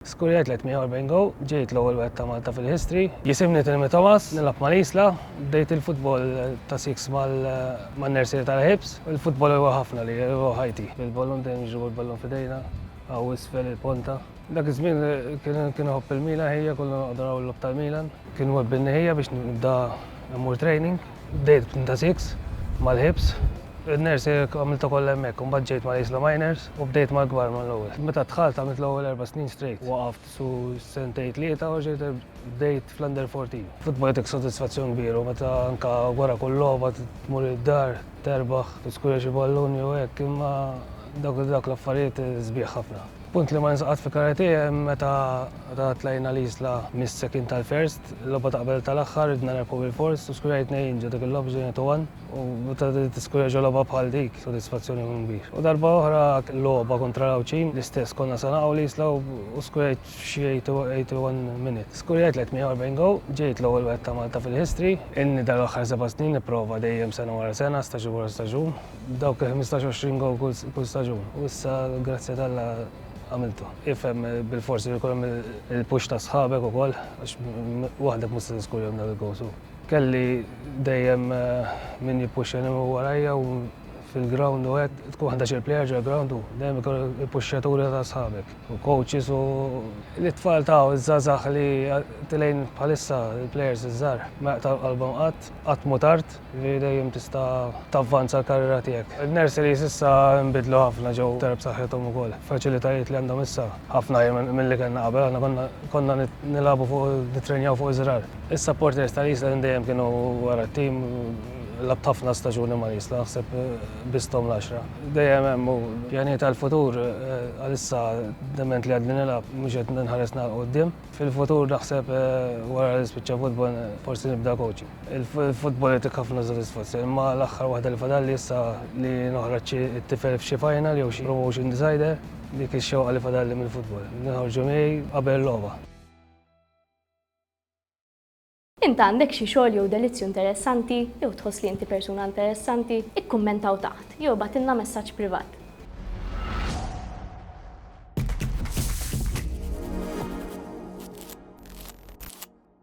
Skurja 340 Go, Ġejt l-ewwel wieħed ta' Malta fil-history. Jisimni Tilmi Thomas, nilgħab mal-Isla. Bdejt il-futbol ta' siks man-nersieri tal-Hibs. Il-futbol huwa ħafna lija, huwa ħajti. Bil-ballun dejjem nġibu l-ballun f'idejna, hawn isfel il-ponta. Dak iż-żmien kien iħobb il-Milan ħija, konna noqogħdu naraw il-logħob tal-Milan. Kien webbinni ħija biex nibda mmur training. Bdejt b'Tinta Six, mal-ħibs, in-nursing għamiltha kollha hemmhekk, imbagħad ġejt mal-Isla Miners u bdejt mal-kbar mill-ewwel. Meta dħalt għamilt l-ewwel erba' snin straight. Waqaft xi sentejn tlieta u reġgħet bdejt fl-Under 14. Futbol jagħtik sodisfazzjon kbir u meta anke wara kull logħba tmur id-dar, terbaħ, tiskura xi ballun jew hekk, imma dawk l-affarijiet sbieħ ħafna. Punt li ma ninsiex qatt fi karate hemm meta meta tlajna l-Isla mis-second għal first, logħba ta' qabel tal-aħħar ridna nerbħu bil-fors u skurjajt tnejn ġo dik il-logħba ġejna to one u meta tiskurja ġo logħba bħal dik sodisfazzjon ikun kbir. U darba oħra logħba kontra l-Għawdxin l-istess konna se naqgħu l-Isla u skurjajt f'xi 81 minute skurjajt l-48 go, ġejt l-ewwel wieħed ta' Malta fil-history. Inni dal-aħħar seba' snin nipprova dejjem sena wara sena, staġun wara staġun, dawk il-ħmistax għoxrin gowl kull staġun u issa grazzja t'Alla għamiltu. Ifhem bil-fors li jkun hemm il-push ta' sħabek ukoll għax waħdek mhux se tiskurjahom dawk il-goals u kelli dejjem min jippuxxjani minn warajja u fil-ground u hekk tkun ħdax il-plejer ġol-ground u dejjem ikun il-puxxjaturi ta' sħabek u coaches u l-itfal ta' u ż-żgħażagħ li tilgħin bħalissa il-plejers iż-żgħar ma jaqtgħu qalbhom qatt, qatt mhu tard. li dejjem tista' tavvanza l-karriera tiegħek. In-nurseries issa nbidlu ħafna ġew iktar b'saħħithom ukoll. Faċilitajiet li għandhom issa ħafna aħjar milli kellna qabel, aħna konna konna nilagħbu fuq nittrenjaw fuq iż-żrar. Is-supporters tal-Isla minn dejjem kienu wara t-tim, lgħabt ħafna staġuni mal-Isla, naħseb biss thom l-għaxra. Dejjem hemm u pjanijiet għall-futur, għalissa dement li għadni nilgħab mhux qed nħares nagħlaq quddiem. Fil-futur naħseb wara li spiċċa futbol forsi nibda coaching. Il-futbol jagħtik ħafna sodisfazzjon imma l-aħħar waħda li fadalli issa li noħroġ xi tifel f'xi final jew xi promotion decider, dik ix-xewqa li fadalli mill-futbol. Li noħorġu miegħi qabel il-logħba. Int għandek xi xogħol jew delizzju interessanti, jew tħoss li inti persuna interessanti? Ikkummenta hawn taħt, jew ibgħatilna messaġġ privat.